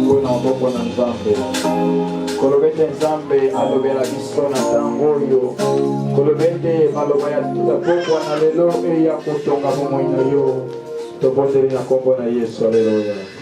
yango na maboko na nzambe koloba ete nzambe alobela biso na ntango oyo koloba ete maloba ya pokwa na lelo eya kotonga bomoi na yo tobondeli na nkombo na yesu aleluya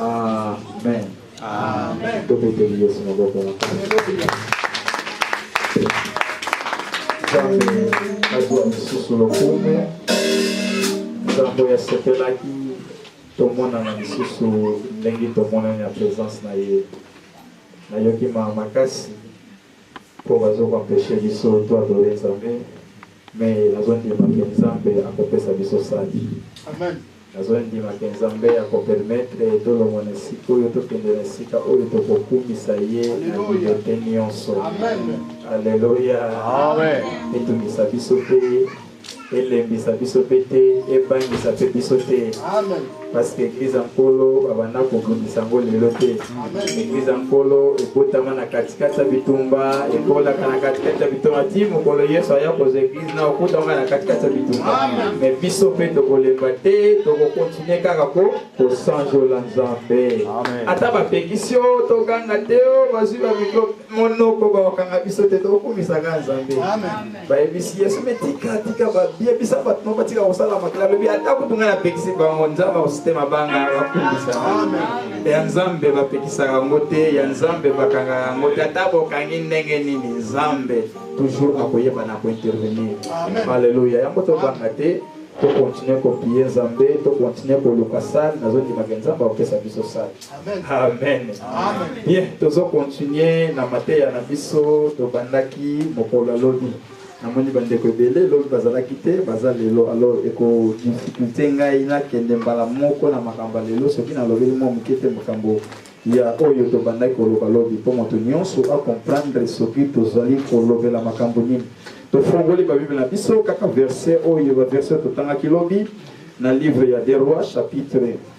Amen. Amen. Tobeteli Yesu maboko na Nzambe azwa lisusu lokumu. Nzambe asepelaki tomonana lisusu ndenge tomonani na presence na ye. Nayoki maa makasi po bazo ko empecher biso to adorer Nzambe mais nazo ndima ke Nzambe ako pesa biso sali. Amen. Nazo ndima ke Nzambe ako permettre to longwa na esika oyo to kende na esika oyo toko kumisa ye na liberté nionso. Amen. Alleluia. Amen. Etumisa biso pe elembisa biso mpe te ebangisa mpe biso te parceke eglize ya nkolo babanda kobundisa yango lelo te eglize ya nkolo ebotama na katikati ya bitumba ekolaka na katikati ya bitumba ti mokolo yesu aya kozwa eglize na okutanga na katikati ya bitumba me biso mpe tokolemba te tokokontinue kaka ko kosanjola nzambe ata bapekisi yo toganga te o oh, bazwi bamikro monoko bakokanga biso te tokokumisaka nzambe bayebisi yesu me tika tika bayebisa bato moko batika kosala makila alobi ata kutu ngai napekisi bango nzambe akositema banga bakumisa ya nzambe bapekisaka yango te ya nzambe bakangaka yango te ata bokangi ndenge nini nzambe toujours akoyeba na kointervenir aleluya yango tobanga te tokontinue kopie nzambe tokontinue koluka sale nazondimaka nzambe akopesa biso sale amen bien tozo continue na mateya na biso tobandaki mokolo ya lobi namoni bandeko ebele lobi bazalaki te baza lelo alors ekodificulte ngai nakende mbala moko na makambo ya lelo soki nalobeli mwa moke te makambo ya oyo tobandaki koloba lobi mpo moto nyonso acomprendre soki tozali kolobela makambo nini tofongoli babible na biso kaka verset oyo baverset totangaki lobi na livre ya deroi chapitre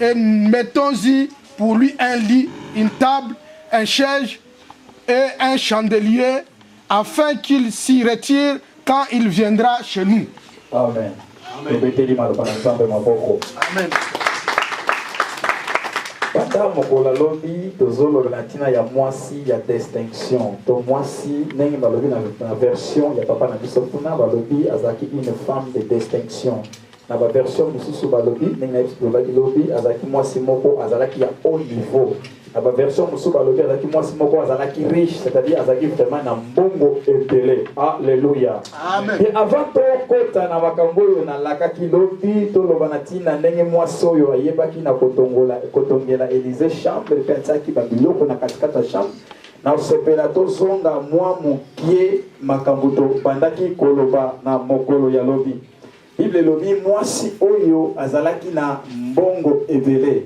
Et mettons-y pour lui un lit, une table, un siège et un chandelier afin qu'il s'y retire quand il viendra chez nous. Amen. Amen. ata mokolo alobi tozoloba na ntina ya mwasi ya distinction to mwasi ndenge balobi na version ya papa na biso kuna balobi azalaki une femme de distinction Na ba version mususu balobi ndenge na yesu lobaki lobi azalaki mwasi moko azalaki ya haut niveau na ba version mususu balobi azalaki mwasi moko azalaki riche c'est-à-dire azalaki vraiment na mbongo ebele alleluia et avant tokota na makambo oyo nalakaki lobi toloba na ntina ndenge mwasi oyo ayebaki na kotongola kotongela élysée chambre mpe atiaki babiloko na katikati ya chambre na kosepela tozonga mwa mokie makambo tobandaki koloba na mokolo ya lobi Bible elobi mwasi oyo azalaki na mbongo ebele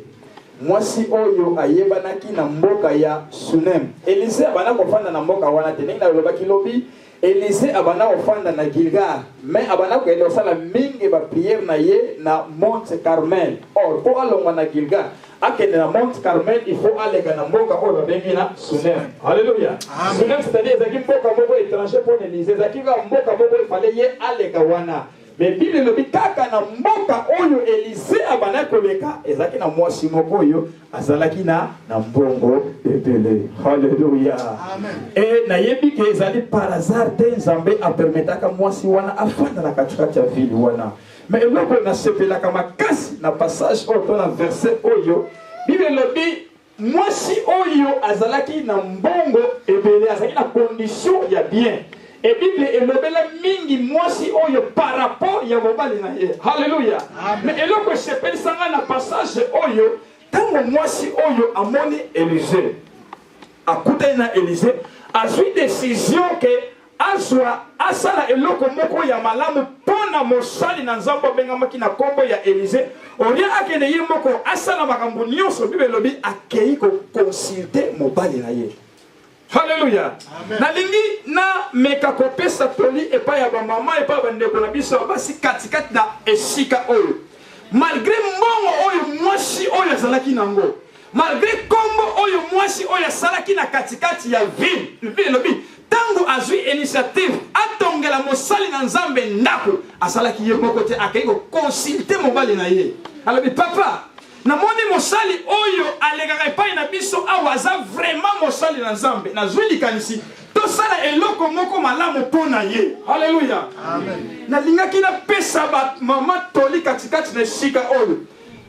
mwasi oyo ayebanaki na mboka ya sunem elize abanda kofanda na mboka wana te ndenge nalobaki lobi elize abanda kofanda na gilgar mai abanda koyenda kosala mingi bapriere na ye na monte carmel or mpo alongwa na gilgar akende na monte carmel il faut aleka na mboka oyo babengi na sunem alleluya sunem c'est-à-dire ezalaki mboka moko étranger mpo na elise ezalaki kaka mboka moko efale ye aleka wana me biblia elobi kaka na mboka oyo elise abandaki koleka ezalaki na mwasi moko oyo azalaki na na mbongo ebele halleluya e nayebi ke ezali par hasard te nzambe apermetaka mwasi wana afanda na katikati ya vile wana Mais eloko oyo nasepelaka makasi na passage oyo to na verset oyo bible elobi mwasi oyo azalaki na mbongo ebele azalaki na condition ya bien e bible elobela mingi mwasi oyo par rapport ya mobali na ye halleluya mais eloko esepelisa ngai na passage oyo ntango mwasi oyo amoni elise akutani na elise azwi décision ke Azwa, asala eloko moko ya malamu mpo na mosali na Nzambe abengamaki na nkombo ya Elize, olie akende ye moko asala makambo nyonso. Biblia elobi akei kokonsulte mobali na ye. Haleluya. Nalingi na meka kopesa toli epai ya bamama, epai ya bandeko na biso ya basi katikati na esika oyo, malgre mbongo oyo mwasi oyo azalaki nango Malgre kombo oyo mwasi oyo asalaki na katikati ya ville, Bible elobi tango azui initiative atongela mosali na Nzambe ndako, asalaki ye moko te, akei ko consulter mobali na ye. Alobi papa, namoni mosali oyo alekaka epai na biso awa aza vraiment mosali na Nzambe. Nazui likanisi tosala eloko moko malamu mpo na ye haleluya nalingaki napesa bamama toli katikati na esika oyo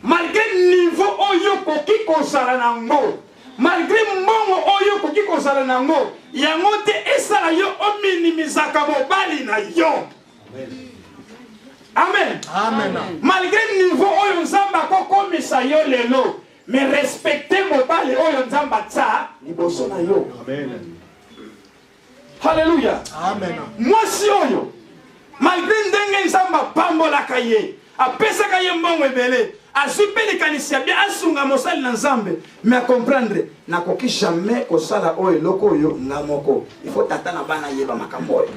malgre niveau oyo okoki kozala na ngo malgre mbongo oyo okoki kozala na ngo yango te esala yo ominimizaka mobali na yo amen, amen. amen. malgre niveau oyo nzambe akokomisa yo lelo me respecte mobali oyo nzambe atya liboso na yo amen. Haleluya. Amen. Mwasi oyo malgre ndenge Nzambe apambolaka ye, apesaka ye mbongo ebele, azwi mpe likanisi ya bien asunga mosali na Nzambe, mais acomprendre nakoki jamais kosala oyo eloko oyo nga moko. Il faut tata na bana ayeba makambo oyo.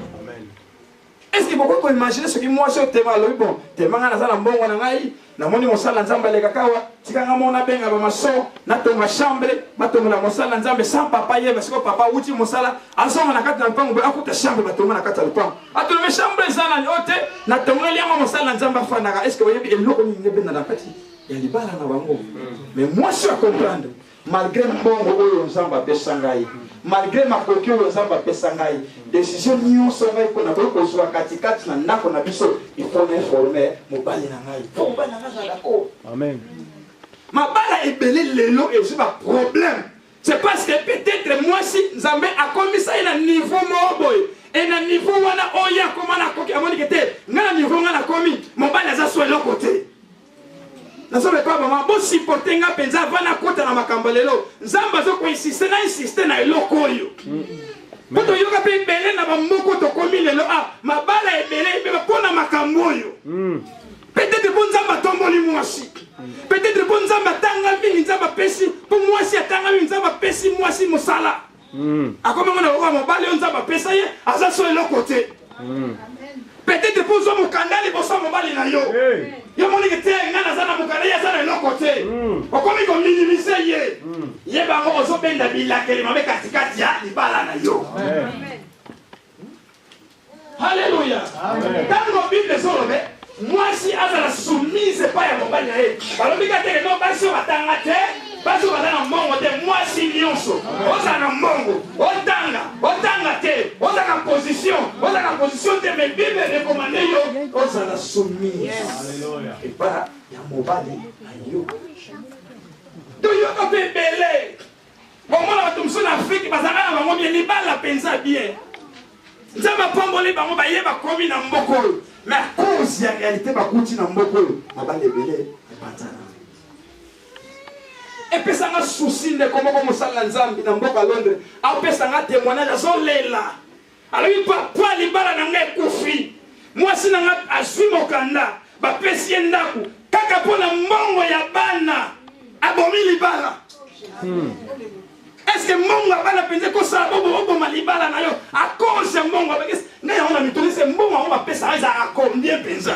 Est-ce que bokoki koimagine soki mwasi oyo tema alobi bon tema ngai naza na mbongo na ngai namoni mosala na nzambe aleka kawa tika ngai mona benga bamaso natonga chambre batongola mosala na nzambe sans papa yeba siko papa awuti mosala azonga na kati na lupango boye akuta chambre batonga na kati ya lupango atolobe chambre eza nani oyo te natongeli yango mosala na nzambe afandaka est ce que oyebi eloko nini ebenda na kati ya libala na bango mais mwasi akomprendre malgre mbongo oyo nzambe apesa ngai malgre makoki oyo nzambe apesa ngai desizio nyonso ngai mpo nakoki kozwa katikati na ndako na biso ifo na informe mobali na ngai po mobali na ngai azala dako amen mabala ebele lelo ezwi baproblème c'est parce que peut-être mwasi nzambe akomisa ye na niveau moko boye e na niveau wana oyo akoma na koki amonike te ngai na niveau ngai nakomi mobali aza so eloko te nazoloba epai mama bosiporte nga mpenza ava nakota na makambo lelo nzambe azokoinsiste na insiste na eloko oyo mpo toyoka mpe ebele na bamoko tokomi lelo a ah, mabala ebele ebeba mpo na makambo oyo hmm. peut-être mpo nzambe atomboli mwasi peut-être mpo nzambe atanga mingi nzambe apesi mpo mwasi atanga mingi nzambe apesi mwasi mosala Mm. Akomi ngo na lokola mobali oyo Nzambe apesa ye, aza so eloko te. Mm. Peut-être mpo ozwa mokanda liboso ya mobali na yo. Yo moni ke te ngai naza na mokanda ye aza na eloko te. Mm. Okomi ko minimiser ye. Ye bango ozobenda bilakeli mabe katikati ya libala na yo. Amen. Haleluya. Tango Bible ezolobe mwasi azala soumise epai ya mobali na ye balobi ka teke no basi oyo batanga te basi oyo baza na mbongo te mwasi nyonso oza na mbongo otanga otanga te oza na position oza na position te mais bible recommande yo ozala soumise epai ya mobali na yo toyoka mpe ebele Bomona bato mosusu na Afrike bazalaka na bango bien libala mpenza bien. Nzambe apamboli bango baye bakomi na mboka oyo me a cause ya realite bakuti na mboka oyo mabala ebele epanzana. Epesanga susi ndeko moko mosala na Nzambe na mboka Londres apesanga temoignage azolela Alobi papa libala na nga ekufi. Mwasi na nga azwi mokanda bapesi ye ndako kaka mpo na mbongo ya bana abomi libala. Hmm. Est-ce que mbongo ya bana mpenza ekosala bobo oboma libala na yo a cause ya mbongo abakisi ngai yango na mituni se mbongo yango bapesaka ezalaka combien mpenza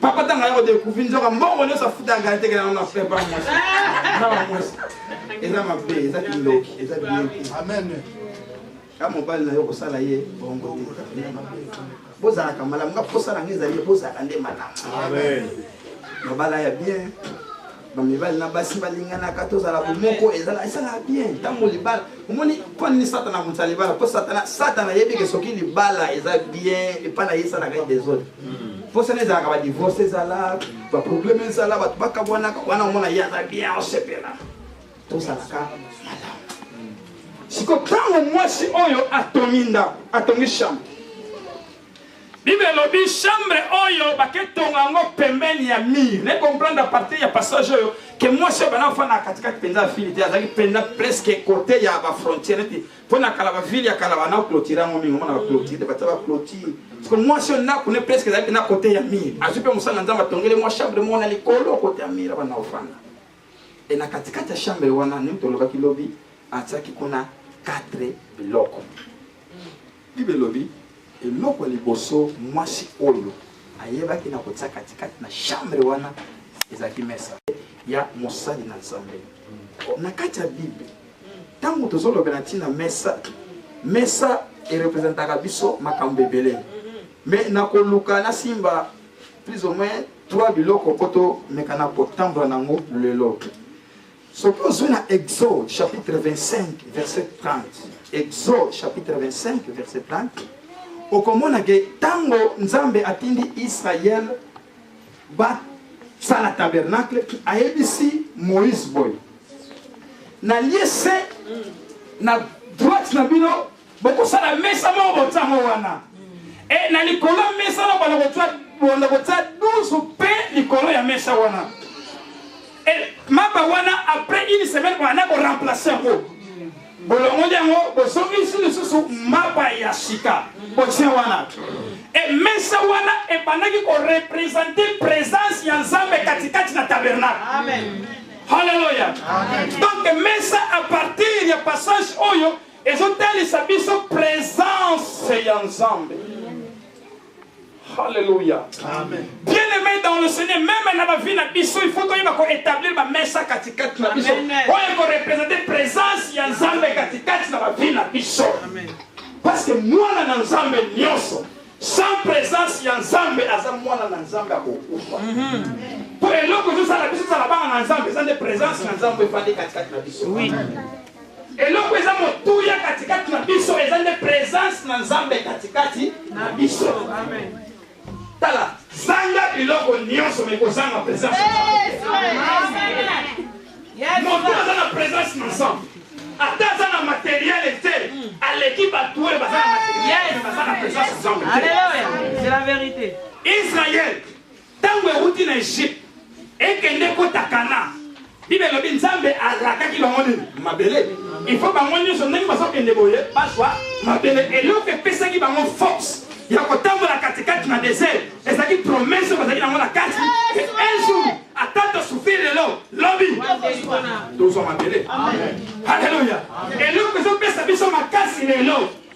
papa tanga yako découvrir nzoka mbongo nyonso afutaka kala tekela yango na pepa mwasi na bamwasi eza mabe eza kindoki eza biyoki amen ka mobali na yo kosala ye bongo bozalaka malamu nga mposa na nga ezali bozalaka nde malamu mabala ya bien bamibali na basi balinganaka tozala bomoko ezala esalaka bien ntango libala omoni mpo nini satana amonisa libala mpo satana satana ayebi ke soki libala eza bien epai na ye esalaka ye desordre mposana hmm. ezalaka badivorce ezala baprobleme ezala bato bakabwanaka wana omona ye aza bien osepela tosalaka malamu siko ntango mwasi oyo atongi ndako atongi chambre Bible elobi chambre oyo bake tonga yango pembeni ya mur. Ne comprendre à partir ya passage oyo que mwasi oyo bana fana kati kati penza afili te azalaki penza presque côté ya ba frontière neti mpo na kala ba ville ya kala bana clôture yango mingi omona ba clôture batia ba clôture siko mwasi oyo ndako ne presque ezalaki na côté ya mur azwi mpe mosala nzambe atongeli mwa chambre moko na likolo côté ya mur bana ofanda e na katikati ya chambre wana nini tolobaki lobi atiaki kuna 4 biloko Bible elobi eloko ya liboso mwasi oyo ayebaki na kotia katikati na chambre wana ezalaki mesa ya mosali na nzambe na kati ya bible ntango tozolobela ntina mesa mesa erepresentaka biso makambo ebele me nakoluka nasimba plus ou moins trois biloko mpo tomekana kotambola na yango lelo soki ozwi na exode chapitre 25 verset 30 exode chapitre 25 verset 30 okomona ke ntango nzambe atindi israel basala tabernacle ayebisi moïse boye nalie se na droite na bino bokosala mesa moko botango wana e na likolo ya mesa na bana kotia bonda kotia 12 mpe likolo ya mesa wana e mapa wana après une semaine bana koremplace yango bolongoli yango bozongisi lisusu mapa ya sika botia wana e mesa wana ebandaki korepresente présence ya nzambe katikati na tabernacle halleluya donc mesa à partir ya passage oyo ezotalisa biso presence ya nzambe Alléluia. Amen. Bien aimé dans le Seigneur, même na ba vie na biso, il faut que yeba ko établir ba mesa katikati na biso. Oyo ko représenter présence ya Nzambe katikati na ba vie na biso. Amen. Parce que mwana na Nzambe nyonso sans présence ya Nzambe aza mwana na Nzambe akokufa. Mhm. Mpo eloko ezosala biso ezala bana na Nzambe eza nde présence na Nzambe efandi katikati na biso. Oui. Amen. Eloko eza motuya katikati na biso eza nde presence na Nzambe katikati na biso. Amen. Tala, zanga biloko nyonso mais kozanga presence. Moto aza na presence na Nzambe. Ata aza na materiel te, aleki bato oyo baza na materiel, baza na presence na Nzambe. Alléluia. C'est la vérité. Israël Ntango ewuti na Egypte ekende kota Kana, Bible elobi Nzambe alakaki bango nini? Mabele. Il faut bango nyonso ndenge bazokende boye bazwa mabele. Eloko epesaki bango force ya kotambola katikati na desert ezalaki promesse bazalaki nango na kati un jour ata tosufri lelo lobi tozwa mabele. Haleluya! Eloko ezopesa biso makasi lelo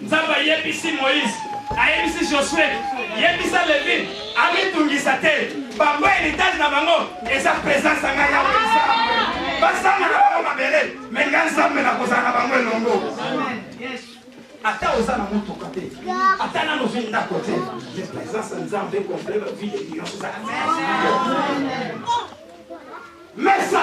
Nzambe ayebisi Moïse, ayebisi Josue, yebisa Levi, amitungisa te. Bango heritage na bango eza presence ya ngai yawe Nzambe. Basanga na bango mabele, me ngai Nzambe nakozala na bango elongo. Ata oza na motuka te, ata nano ozwi ndako te, mais presence ya Nzambe ekomple ba vie de nyonso. Mesa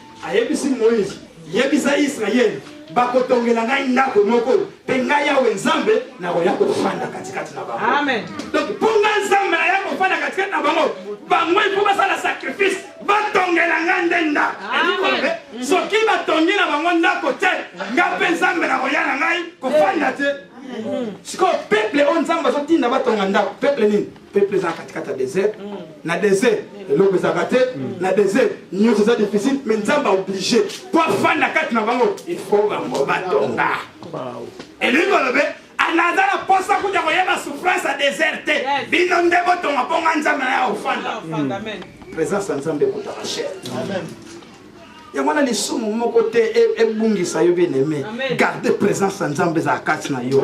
ayebisi moïse yebisa israele bakotongela ngai ndako moko mpe ngai yawe nzambe nakoya kofanda katikati na bango donc mpo ngai nzambe naya kofanda katikati na bango bango ifo basala sacrifice batongela ngai nde ndako elikolobe soki batongi na bango ndako te ngai mpe nzambe nakoya na ngai kofanda te sikoyo peple oyo nzambe azotinda batonga ndako peple nini peuple eza katikati ya desert mm. na desert mm. eloko ezalaka te mm. na desert nyonso eza difficile mais nzambe aoblige po afanda kati na bango il faut bango batonga elingi kolobe naza na posa kuta koyeba souffrance ya desert te bino nde botonga mpo nga nzambe na ya ofanda présence ya nzambe ekutaka chere yango wana lisumu moko te e, ebungisa yo bien aime garde présence ya nzambe ezala kati na yo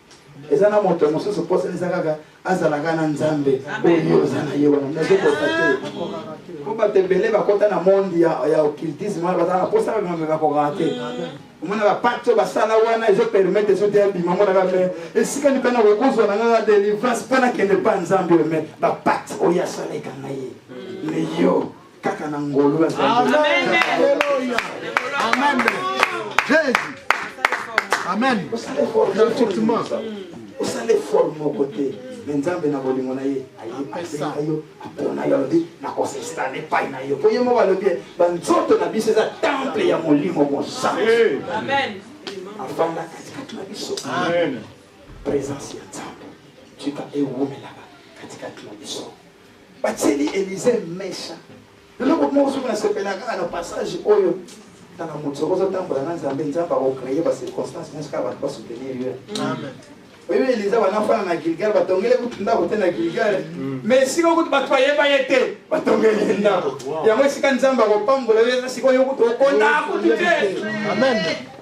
eza na moto mosusu mposa eza kaka azalaka na nzambe oyo oza na ye wana nazokota te mpo bato ebele bakota na monde ya occultisme wana bazalaka mposa kaka mambe bakokaka te omona bapakte oyo basala wana ezopermete soki ebima monaka me esika ni mpena kokozwa na ngaka delivrance mpo nakende mpa nzambe oyo me bapakte oyo asala ekanga ye me yo kaka na ngolu ya nzambe amen jesus amen effectivement osala effort moko te me nzambe na bolingo na ye ayebisa yo apona yo alobi nakosestana epai na yo mpo ye moko alobi banzoto na biso eza temple ya molimo mosantu afanda katikati na biso présence ya nzambe tika ewumelaka katikati na biso batieli elise mesha eloko moko soki nasepela kaka na passage oyo tala moto soki ozotambola na nzambe nzambe akocreye bacirconstance nyonso kaka bato basoutenir yo oyebi eliza banafana na gilgal batongeli kutu ndako te na gilgal mm. mais esika okutu bato bayeba ye te batongeli ye ndako yango esika nzambe akopambola yo eza sikoyo okutu okonda kutu te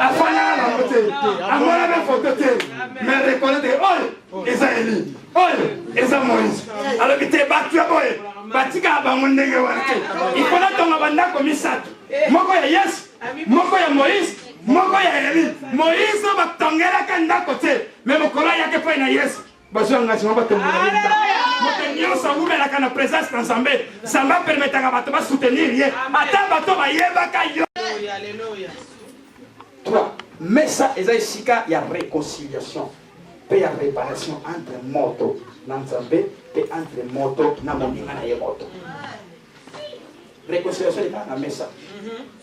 afandaka na yango te amona na foto te me reconnaître oyo oh, oh, eza eli oyo oh, eza moïse alobi te bato ya boye batikaka bango ndenge wana te ifo natonga bandako misato moko ya yesu moko ya moïse moko ya eli moïse batongelaka ndako te me mokolo ayaki epai na yesu bazwa engagement batombola moto nyonso awumelaka na présence na nzambe nzambe apermetaka bato basoutenir ye ata bato bayebaka yo toi mesa eza esika ya réconciliation mpe ya réparation entre moto na nzambe mpe entre moto na moninga na ye moto réconciliation ekaka na mesa mhm.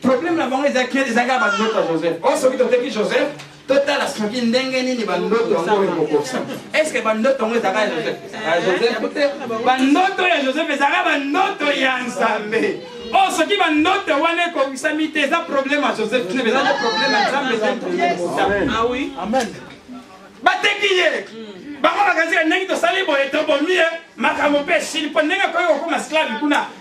problème na bango ezaki ezaki ya bandoto ya joseph oyo oh, soki toteki joseph totala soki ndenge nini bandoto yango ekokokisa estce bandoto yango ezaka ya joseph ezaka ya joseph te bandoto ya joseph ezaka bandoto ya nzambe o oh, soki bandoto wana ekokisami te eza problème ya joseph te eza te problème ya nzambe eza problème ah oui amen bateki ye bango bakazika ndenge tosali boye tobomi ye makambo mpe esili mpo ndenge akoki kokoma sklave kuna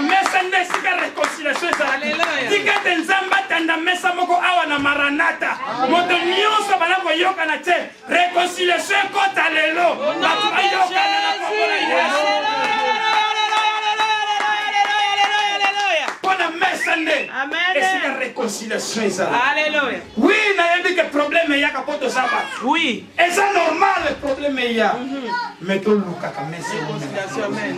mesa nde esika réconciliation ezalaki tika ete nzambe atanda mesa moko awa na maranata moto nyonso bala koyokana te réconciliation ekota lelo bato bayokana na kombo na yesu mpo na mesa nde esika réconciliation ezala Oui, nayebi que problème eyaka po toza bato. Oui. Eza normal problème eya. Mm -hmm. Mais tolukaka mese amen.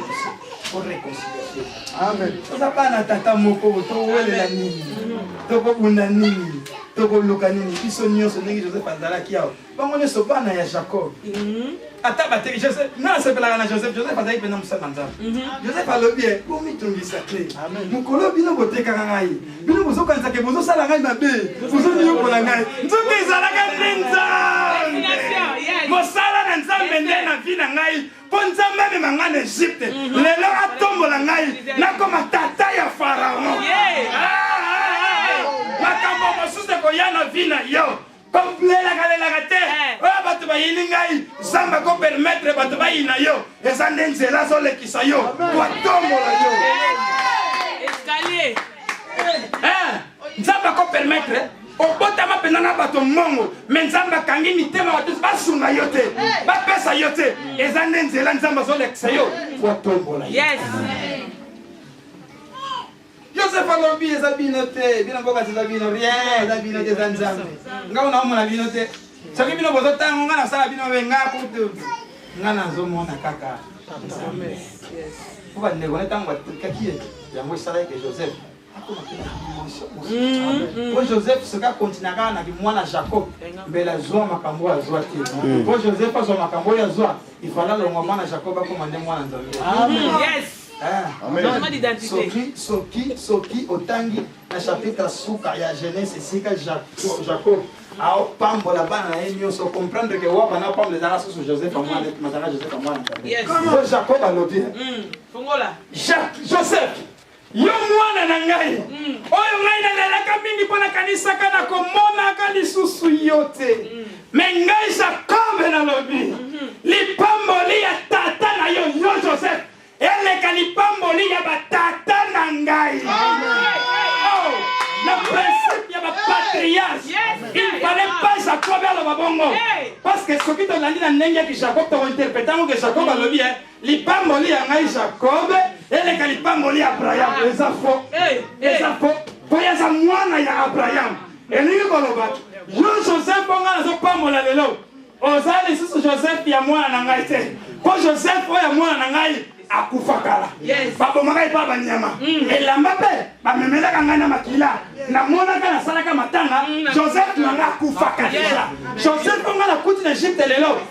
Pour réconciliation. Amen. Toza bana tata moko towelela nini? Tokobunda nini? Tokoluka nini? Biso nyonso ndenge Joseph azalaki awa. bango nyonso bana ya jacob mhm. ata bateki joseph nga nasepelaka na joseph joseph azalaki mpenza mosali na nzambe mhm. joseph alobi ye bomitungisa te mokolo bino botekaka ngai bino bozokanisaka bozosala ngai mabe bozoniokola ngai nzoka ezalaka nde nzambe mosala na nzambe nde na vi na ngai mpo nzambe amema ngai na egypte mhm. lelo atombola ngai nakoma tata ya faraon ah, ah, ah, makambo mosusu ekoya na vi na yo kolelaka lelaka te eh. oyo bato bayini ngai nzambe akopermetre bato bayina yo eza nde nzela azolekisa yo koatombola yo eh. Eh. nzambe akopermetre obotama mpenza na bato mbongo me nzambe akangi mitema bato basunga yo te bapesa yo te eza nde nzela nzambe azolekisa yo koatombola yo Joseph alobi eza bino te, bino mboka eza bino rien, eza bino te, eza Nzambe. Ngai naomona bino te. Soki bino bozotanga ngai nasala bino mabe, ngai kutu ngai nazomona kaka Nzambe. Mpo bandeko na ntango batikaki ye, yango esalaki ke Joseph akoma mpe na dimension mosusu. Mm, Mpo mm. Joseph soki akontina kaka na kimwana Jacob, mbele azwa makambo oyo azwa te. Mm. Mpo Joseph azwa makambo oyo azwa, ifala alongwa mwana Jacob akoma nde mwana Nzambe. Amen. Yes. soki soki soki otangi na chapitre suka ya genese esika jacob aopambola bana na ye nyonso comprendre ke wa bana pambola ezalaka susu joseph amwana matanga joseph amwana o jacob alobi joseph yo mwana na ngai mm. oyo ngai nalelaka mingi mpo nakanisaka nakomonaka lisusu yo te mm. Mais ngai Jacob nalobi, lipamboli ya tata na yo yo Joseph eleka lipamboli ya batata na ngai. Oh, na principe ya bapatriarche il fallait pas Jacob aloba bongo parce que soki tolandi na ndenge ya Jacob tokointerprete yango ke Jacob alobi eh, lipamboli ya ngai Jacob eleka lipamboli ya Abraham. Eza faux, eza faux. Mpo ye aza mwana ya Abraham. elingi koloba yo joseph mpo ngai nazopambola lelo oza lisusu joseph ya mwana na ngai te mpo joseph oyo ya mwana na ngai akufa kala babomaka epa banyama mm. elamba mpe bamemelaka ngai na makila namonaka nasalaka matanga mm. joseph na ngai akufaka deja joseph mpo ngai nakuti na egypte lelo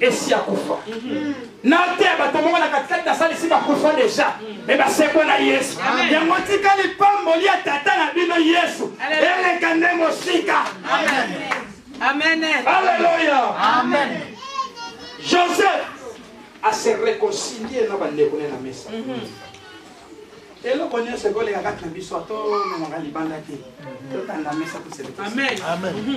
esi akufa nateya bato moko na katikati nasalisi bakufa deja me basekwa na yesu yango tika lipamboli ya tata na bino yesu eleka nde mosika aleluya joseph ase reconcilie na bandeko ne na mesa mhm. eloko nyonso ekoleka kati na biso atomemaka libanda te totanda mesa toseamen mhm.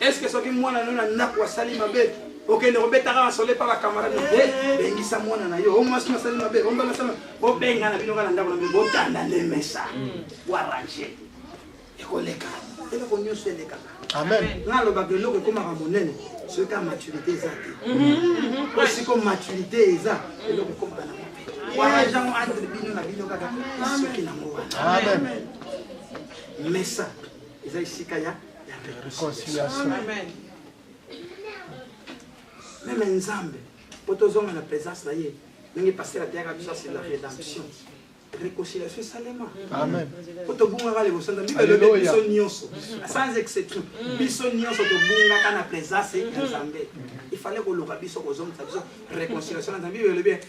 eske soki mwana no na ndako asali mabe okende kobetaka na sole pa bakamarade eh, bengisa mwana na yo omwasi masali mabe ombalasana bobenga na bino ka na ndako na bino botanda nde mesa boarrange hmm. ekoleka eloko nyonso elekaka nalobaka eloko ekomaka monene soki ka maturité eza te mhm. po siko maturité eza eloko ekomaka na wana jango entre bino na bino kaka soki nango wana mesa eza esika ya reconciliation meme nzambe mpo tozonga na présence na ye ndenge pasteur ateyaka biso asi la rédemption réconciliation esalema mpo tobungaka liboso na bibele elobi biso nyonso sans exception mm. biso nyonso tobungaka na présence ya nzambe ifale koluka biso kozongisa biso réconciliation na nzambe bibele elobi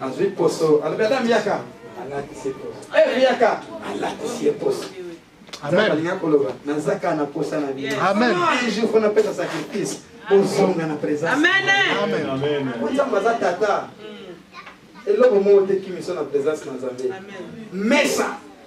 Azui poso. Alobi ata miyaka. Alatisi poso. Eh miyaka. Alatisi ye poso. Amen. Balinga koloba naza kaka na posa na bino. Amen. Un jour faut napesa sacrifice. Bozonga na présence. Amen. Amen. Amen. Nzambe aza tata. Mm. Eloko moko te kimiso na présence na Nzambe. Amen. Mesa.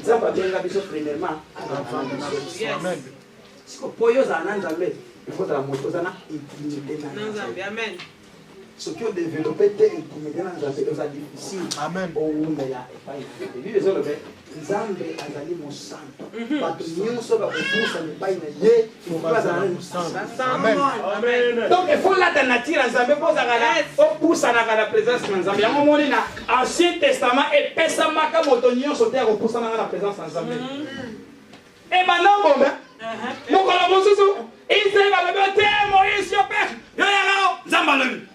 nzambe abenga biso premièrement siko mpo yo ozala na nzambe ifo ozala moto oza na intimité na nzambe amen soki odevelope te intimité na nzambe oza difficile owumela epai na nzambe bibi ezolobe nzambe azali mosanto mhm. bato nyonso bakopusana epai na ye donc il faut lata nature ya nzambe mpo ozalaka na opusanaka na présence na nzambe yango omoni na ancien testament epesamaka moto nyonso te ya kopusanaka na présence na nzambe ebanda obonga mokolo mosusu israel balobi te moise yo pere yo yaka nzambe alobi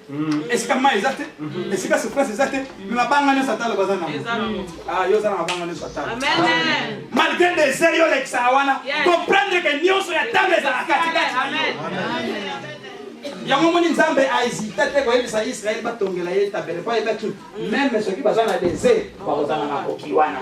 Mm. esika mai eza te mm-hmm. esika souffrance eza te me mabanga nyonso atalo baza nango ah, yo oza na mabanga nyonso atalo malgré desert yo olekisaka wana comprendre ke nyonso ya talo ezala katikati yango omoni nzambe ahésita te koyebisa israele batongela ye tabele po ayebaki meme soki baza na desert bakozala na makoki wana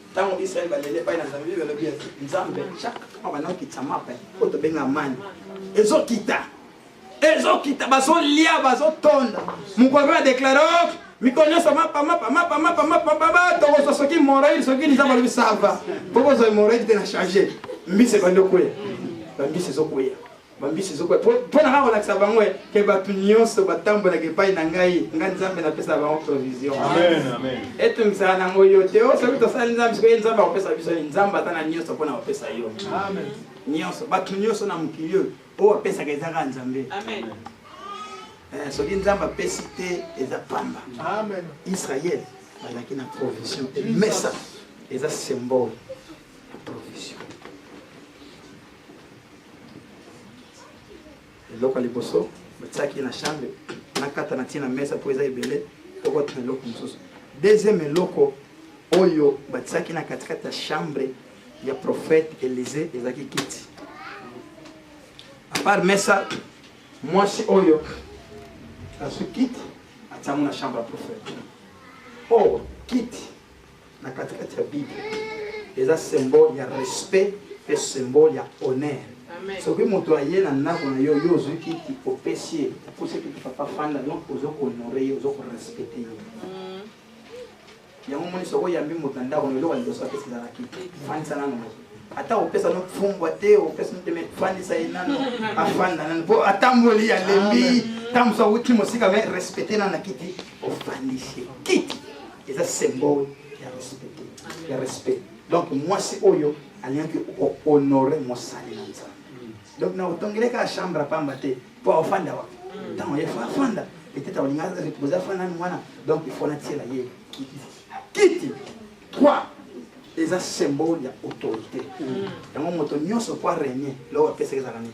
ntango israele baleli epai na nzambe bible elobi ete nzambe chaque ntango abanda kokitisa mape oyo tobenga mani ezokita ezokita bazolia bazotonda mokolo mpe badeklare o oh, mikolo nyonso mapamapamapamapamapamapa tokozwa soki moroide soki liza balobi sava mpo kozwa moroide te na change mbisi ebandi okweya bambisi ezokweya bambisi ezokwea mpo na kaka kolakisa bango eh, ke bato nyonso batambolaka epai na ngai ngai nzambe napesa bango provision etungisaka nango yo te o oh, soki tosali nzambe sikoye nzambe akopesa biso ye nzambe ata na nyonso mpo na kopesa yo nyonso bato nyonso na mokili oyo oyo apesaka eza kaka nzambe eh, soki nzambe apesi te eza pamba israele bazalaki na provision emesa eza symbole ya provision eloko ya liboso batiaki na chambre nakata na ntina mesa mpo eza ebele okota na eloko mosusu deuxième eloko oyo batiaki na katikati ya chambre ya prophète elise ezalaki kiti apart mesa mwasi oyo azwi kiti atiango na chambre ya prophète o oh, kiti na katikati ya bible eza symbole ya respect mpe symbole ya honneur soki moto aye na ndako na yo yo ozwi kiti opesi ye opesi kiti papa fanda donc ozo kohonore ye ozo korespecte ye mm. yango moni soki oyambi moto na ndako na eloko ya liboso apesi ezala kiti fandisa nano moto ata opesa no fumbwa te opesa no te me fandisa ye nano afanda nano mpo atamboli alembi ntango mosusu awuti mosika me respecte nano na kiti ofandisi kiti eza symbole ya respect te ya respect donc mwasi oyo alingaki kohonore mosali na nzambe donc na otongeleka ya chambre apamba te mpo afanda wapi ntango ye fa afanda peut-être akolinga repose afanda nani wana donc ifo natiela ye kiti kiti 3 eza symbole ya autorité yango moto nyonso mpo arenie loko apesaka ezala nini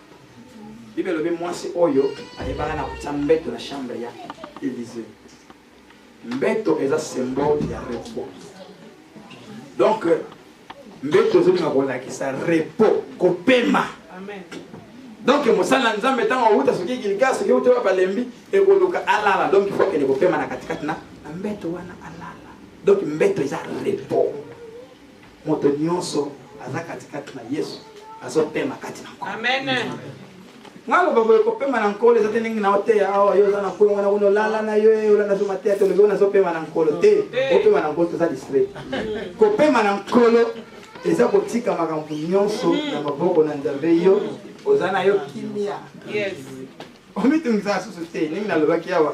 bible elobi mwasi oyo ayebaka na kotya mbeto na chambre ya elise mbeto eza symbole ya repos donc mbeto ezolinga kolakisa repos kopema donc mosala ya nzambe ntango awuta soki gilga soki euti wapi alembi ekoluka alala donc ifo akende kopema na katikati na mbeto wana alala donc mbeto eza repos Moto nyonso aza katikati na Yesu azopema kati na Nkolo. Amen. Nga loba boye kopema na Nkolo eza te ndenge na oteya awa yo oza na Nkolo wana kuna olala na yo eh, olanda zo mateya tolobi wana azopema na Nkolo te opema na Nkolo toza distrait. Kopema na Nkolo eza kotika makambo nyonso na maboko na Nzambe yo oza na yo kimia. Yes. omitungisa susu te ndenge nalobaki awa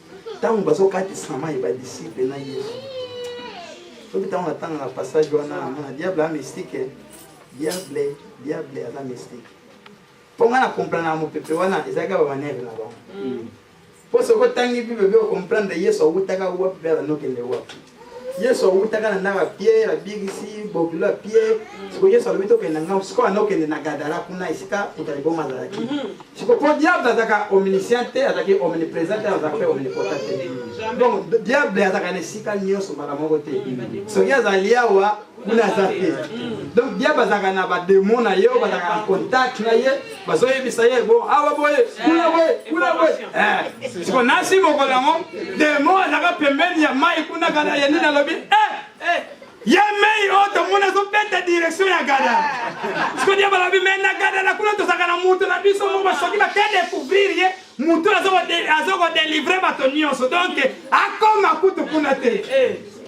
ntango bazokatisa mai badisiple na yesu soki ntango natangaka passage wana amona diable a mystique diable diable aza mystique mpo ngai na komplanaka mopepe wana ezalaki bamanere na bango mpo soki otangi bible mpe okomprendre yesu awutaka wapi mpe azanokende wapi yesu awutaka na ndako ya pie babikisi bokilo ya pie siko yesu alobi tokende na ngambo sikoyo anda okende na gadara kuna esika moto aliboma azalaki mhm. siko mpo diable azalaka omniscient te azalaki omniprésent te azalaka mpe omnipotent te donc diable azalaka na esika nyonso mbala moko te soki azali awa kuna aza te donc dia bazalaka na bademo na ye oyo bazalaka na contact na ye bazoyebisa ye bo awa ah, boye kuna boye kuna boye eh, siko nasi mokolo yango demo azalaka pembeni ya mai kuna kala ya nini alobi eh, eh, ye mei oyo tomona ezobeta direction ya gada siko dia balobi me na gada na kuna tozalaka na moto na biso moko basoki bakedecouvrir ye moto azokodelivre bato nyonso donc akoma kutu kuna te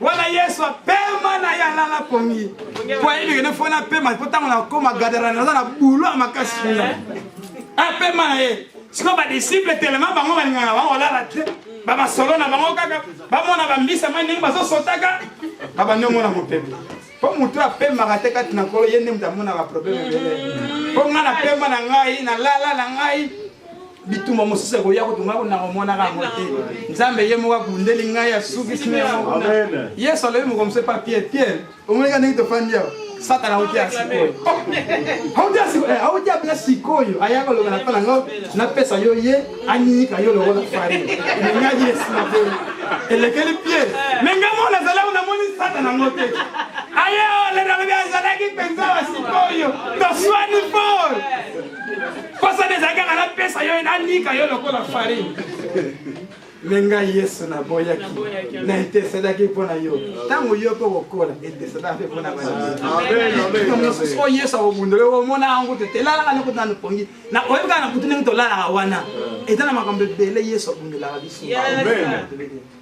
wana yesu apema na ye alala pongi po ayebi kende fo napema po ntango nakoma gadara naza na bulo ya makasi kuna eh? apema na ye sikoyo badisiple telema bango balingaka bango olala te bamasolo na bango kaka bamona bambisa mai ndenge bazosotaka babandi omona mopepe mpo motu apemaka te kati na kolo ye nde moto amonaka probleme ebele mpo ngai napema na ngai nalala na ngai bitumba mosusu ekoya kotunga konanga omonaka yango te nzambe ye moko abundeli ngai asukisi na yango yesu alobi mokomso epa pierre pierre omoneka ndenge tofandi awa satana auti ya sikoyo auti ya bla sikoyo aya koloba na mpa na ngai napesa yo ye anyika yo lokola fari elingaji esina te elekeli pierre me ngai moko nazali awo namoni satana yango te aye olenalobi azalaki mpenza wa sikoyo toswani fort posa na ezalaki kaka napesa yo nanika yo lokola farine me ngai yesu naboyaki na eteselaki mpo na yo ntango yo mpe okokola eteselaka mpe mpo na banamosusu oyo yesu akobundole omona yango te telalaka noko nanu pongi na oyebi kaka na butu ndenge tolalaka wana eza na makambo ebele yesu abundolaka biso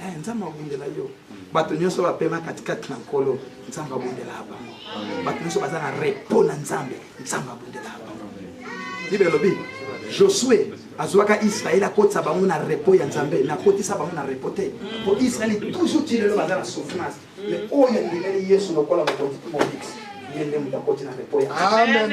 Eh, nzambe abundela yo bato nyonso bapema katikati na nkolo nzambe abundelaka bango bato nyonso baza na repo na nzambe nzambe abundelaka bango bible elobi josue azwaka israel akotisa bango na repo ya nzambe nakotisa bango na repo te po israel toujours ti lelo baza na souffrance me oyo andimeli yesu lokola mobikisi ye nde moto akoti na repo ya amen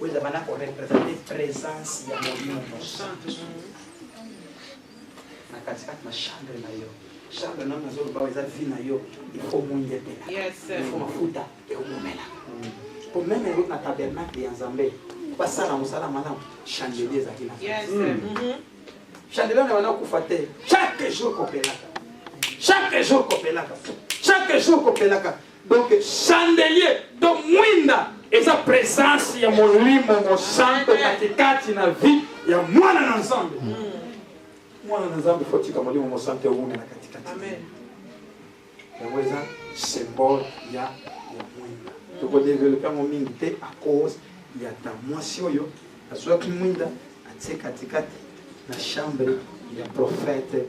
oyo eza bana korepresente présence ya molimo mosantu na katikati na chambre na yo chambre nano nazoloba eza vi na yo ekomongetela efo mafuta ekomomela po meme yango na tabernacle ya nzambe basala mosala malamu chandelier ezalaki na mm-hmm. chandelier na bana okufa te chaque jour kopelaka chaque jour kopelaka chaque jour kopelaka Donc chandelier to mwinda eza presence ya molimo mosanto katikati na vie ya mwana na nzambe mm. mwana na nzambe fotika molimo mosanto ewume na katikati yango eza symbole ya ya mwinda tokodevelope yango mingi te à cause ya ta mwasi oyo Azuaki mwinda atie katikati na chambre ya prophète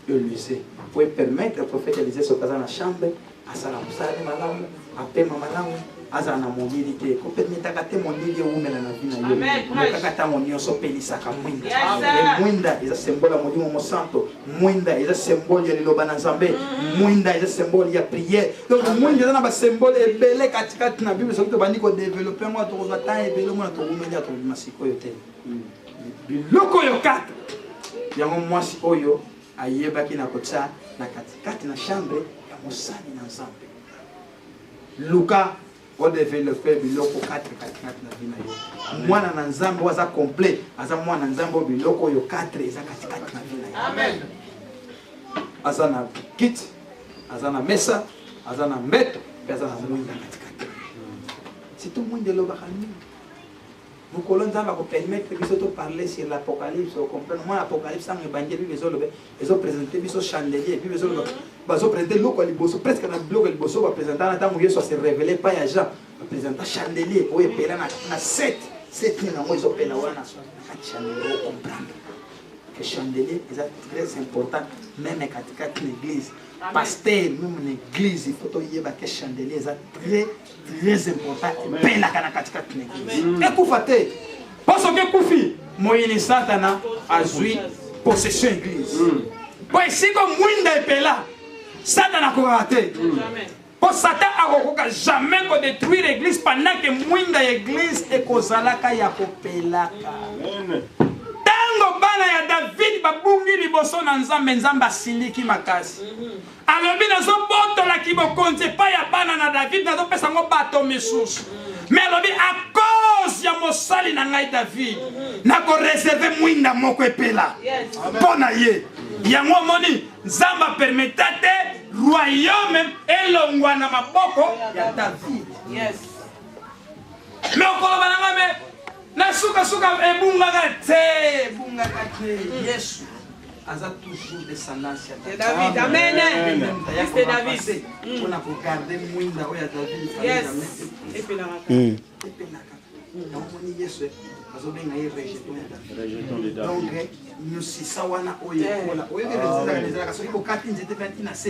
Elisee po epermettre prophète Elisee soki aza na chambre asala mosala ne malamu apema malamu azala na molili te kopermetaka te molili ewumela na vi na yo okaka ntango nyonso opelisaka mwinda mwinda eza sembola molimo mosanto mwinda eza symbole ya liloba na nzambe mwinda eza symbole ya priere donc mwinda eza na basymbole ebele katikati na bible soki tobandi kodevelope yango tokozwa temps ebele omona towumeli ya tobima sikoyo te biloko oyo kaka yango mwasi oyo ayebaki na kotya na katikati na chambre ya mosali na nzambe luka o develope biloko katre katikati na vi na yo mwana na nzambe oyo aza complet aza mwana na nzambe oyo biloko oyo katre eza katikati na vi na yo amen aza na kiti aza na mesa aza na mbeto mpe aza na mwinda katikati sito mwinda elobaka nini mokolo nzambe akopermettre biso to parler sur l'apocalypse ocomprendre mwa apocalypse ntango ebandi bible ezoloba ezopresente biso chandelier bible ezoloba bazopresente eloko ya liboso presque na biloko ya liboso bapresenta na ntango yesu ase révele epai ya jean bapresenta chandelier oyo epela na set seti nango ezopela wana kati chandelier ocomprendre que chandelier eza très important meme katikati na église pasteur meme na église il faut toyeba ke chandelier eza très très important epelaka na katikati na eglise mm. ekufa te mpo soki ekufi moyini satana azwi possession eglise mm. mpo esika mwinda epela satana akokaka te mm. mpo satan akokoka jamais kodétruire église pendant ke mwinda ya église ekozalaka ya kopelaka ntango bana ya david babungi liboso na nzambe nzambe asiliki makasi mm-hmm. alobi nazobotola kibokonzi epai ya bana na david nazopesa yango bato misusu me alobi a cause ya mosali na ngai david nakoreserve mwinda moko epela mpo na ye yango omoni nzambe apermeta te royaume elongwa na maboko ya david me okoloba na ngai me na sukasuka ebungaka te ebungaka te yesu aza toujours descendance ya david amen mr david mpona kogarde mwinda oyo ya david epelaka epelaka omoni yesu bazobenga ye rejeton ya david donc nyosisa wana oyo ekola oyebi ezalaka soki bokati nzete mpe atina se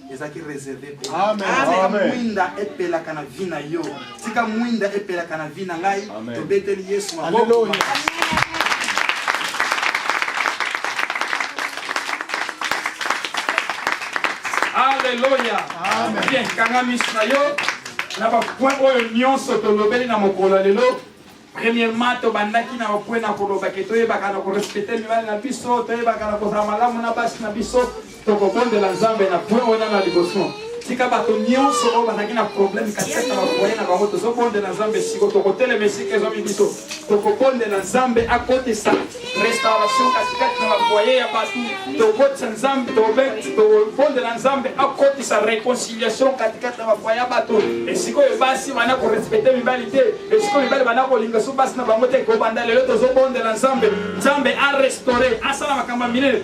ezalaki reserve mpo tika mwinda epelaka na vi na yo tika mwinda epelaka na vi na ngai tobeteli yesu maboko aleluya bien kanga misu na yo na bapoint oyo nyonso tolobeli na mokolo ya lelo Premièrement, tobandaki na okwe na koloba ke toyebaka na korespecte mibali na biso, toyebaka na kozala malamu na basi na biso, tokobondela Nzambe na point wana na liboso. Tika bato nyonso oyo bazalaki na problème katikati na bafoye na bango, tozobondela Nzambe siko, tokotelema esika ezwami biso, tokobondela Nzambe akotisa restauration katikati na bafoye ya bato tokotisa nzambe tobondela nzambe akotisa réconciliation katikati na bafoye ya bato esikoyo basi bana korespecte mibali te esikoyo mibali bana kolinga so basi na bango te kobanda lelo tozobondela nzambe nzambe arestaure asala makambo ya minene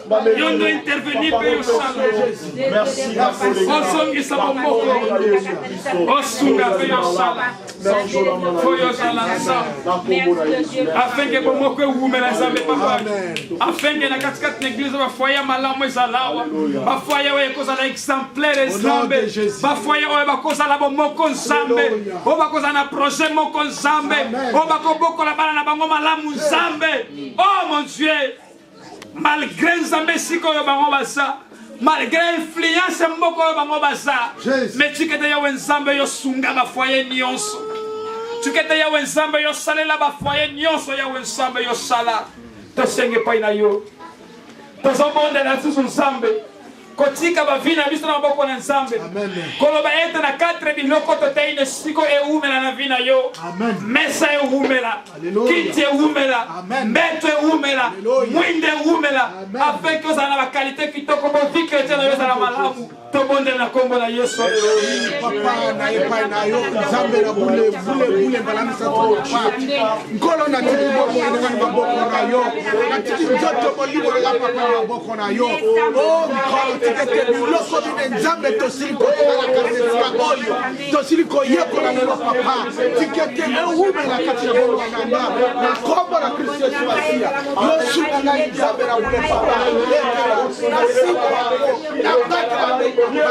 yo nde interveni mpe yosala ozongisa bomoko osunga mpe yosala mpo yozala nzambe afenge bomoko ewumela nzambe papa afenge na katikati na eglize bafoye ya malamu ezalawa bafoye oyo ekozala exemplaire nzambe bafoye oyo bakozala bomoko nzambe oyo bakozala na projet moko nzambe oyo bakobokola bana na bango malamu nzambe o oh, mon dieu malgré nzambe esika oyo bango baza malgré influence ya mboka oyo bango baza me tikete yawe nzambe yo sunga bafoye nyonso tikete yawe nzambe yo salela bafoye nyonso yawe nzambe yo sala tosenge epai na yo tozobondela lisusu nzambe kotika bavi na biso na maboko na nzambe koloba ete na 4 biloko totei na siko ewumela na vi na yo mesa ewumela kiti ewumela mbeto ewumela mwinde ewumela afeki ozala na bakalite kitoko boviki ete na yo ezala malamu tobondela na nkombo na yesu papa na epai na yo nzambe na bule bule bule mbala misato nkolo natiki bomoi na ngai maboko na yo natiki nzoto molimo na ngai papa na maboko na yo o mikolo tikete biloko bine nzambe tosili kotikala kanesika oyo tosili koyekola lelo papa tikete ewumela kati na bongo nanga na nkombo na kristo yesu masiya yosunga ngai nzambe na bule papa ekela nasimba yango nabatela mekoma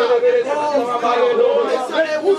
o esala ewumela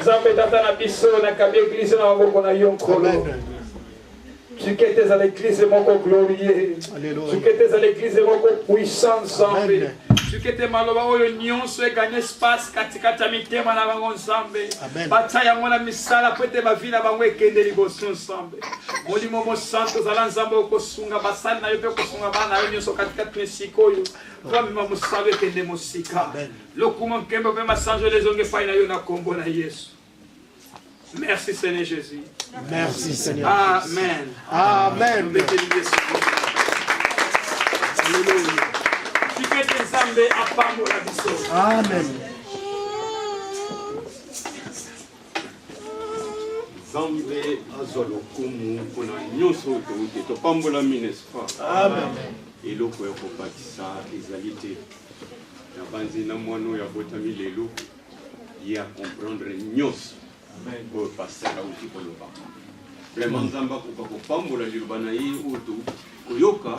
nzambe tata na biso nakabi eglize na maboko na yo nkolo sukete ezala eglize moko glorie sukete ezala eglize moko puissant nzambe sukete maloba oyo nyonso egani espace katikati ya mitema na bango nzambe batya yango na misala mpo ete bavi na bango ekende liboso nzambe molimo mosanto ozala nzambe okosunga basali na yo mpe okosunga bana na yo nyonso katikati na esika oyo mpo amema mosala ekende mosika Lokumu, nkembo mpe masanjoli ezongi epai na yo na nkombo na Yesu. Merci Seigneur Jésus. Merci Seigneur. Amen. Amen. Alléluia. Kikete Nzambe apambola biso. Amen. Nzambe azwa lokumu mpo na nyonso oyo touti topambolami n'est-ce pas? Amen. Eloko ya kobakisa ezali te. nabanzi na mwana oyo abotami lelo ye acomprendre nyonso oyo pasteur auti koloba vraiment nzambe akoka kopambola liloba na ye oyo touti koyoka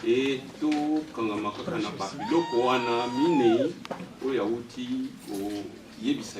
e tokangama kaka na babiloko wana minei oyo auti koyebisa